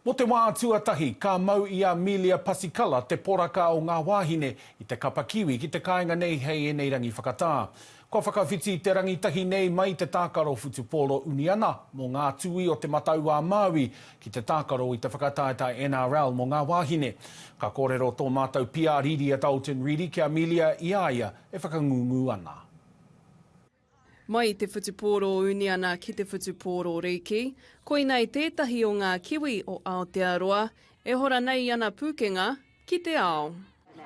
Mō te wā tuatahi, ka mau i a Melia Pasikala te poraka o ngā wāhine i te kapa Kiwi ki te kāinga nei hei ēnei rangi whakatā. Kua whakawhiti te rangitahi nei mai te tākaro whutupōro uniana mō ngā tūī o Te Matau-a-Māui ki te tākaro i te whakataetae NRL mō ngā wāhine. Ka kōrero tō mātou PR Rīria Dalton Reedy ki a Melia i a ia e whakangungu ana. Mai i te whutupōro uniana ki te whutupōro rīki, koinei tētahi o ngā kiwi o Aotearoa e hora nei i ana pūkenga ki te ao.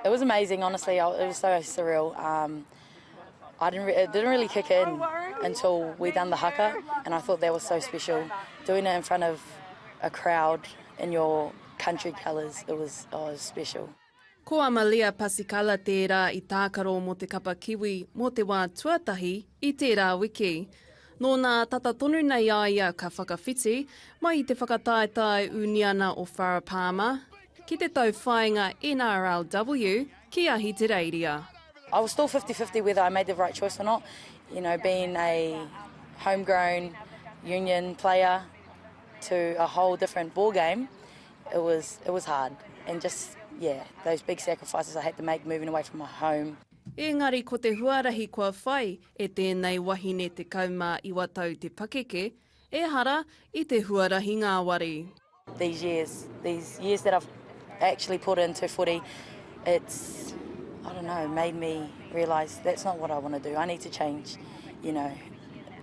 It was amazing honestly it was so surreal um I didn't it didn't really kick in until we done the haka and I thought that was so special doing it in front of a crowd in your country colours it was oh it was special. Ko Amalia Pasikala tērā i tākaro mō te kapa Kiwi mō te wā tuatahi i tērā wiki. Nō nā tata tonu nei a ia ka whakawhiti, mai i te whakataetae uniana o Farah Palmer, ki te tauwhāinga NRLW ki Ahitereiria. I was still fifty fifty whether I made the right choice or not, you know being a home grown union player to a whole different ball game, It was it was hard and just yeah those big sacrifices I had to make moving away from my home. Ēngari ko te huarahi kua whai e tēnei wahine 19 tau te pakeke, ehara i te huarahi ngāwari. These years, these years that I've actually put into footy, it's, I don't know, made me realise that's not what I want to do, I need to change, you know.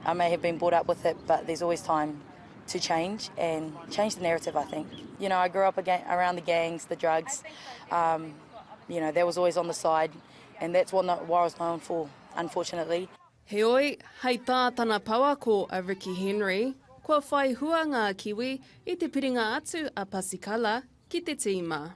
I may have been brought up with it but there's always time. to change and change the narrative I think you know I grew up around the gangs the drugs um you know that was always on the side and that's what I was known for unfortunately. Heoi, hei tā tana pouako a Ricky Henry, kua whai hua ngā Kiwi i te piringa atu a Pasikala ki te tīma.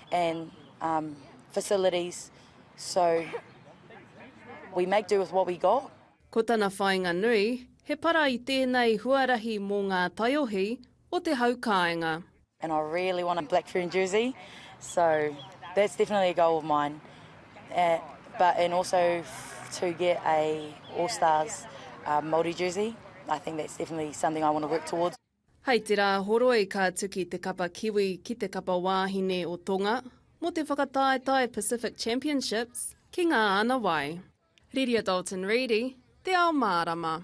and um facilities so we make do with what we got. Ko tana whāinga nui, he para i tēnei huarahi mō ngā taiohi o te hau kāinga. And I really want a black fern jersey so that's definitely a goal of mine eh, but and also to get a All Stars uh, Māori jersey. I think that's definitely something I want to work towards. Hei te rā horoi ka tuki te kapa Kiwi ki te kapa wāhine o Tonga mō te whakataetae Pacific Championships ki Ngā Anawai. Riria Dalton Reedy, Te Ao Mārama.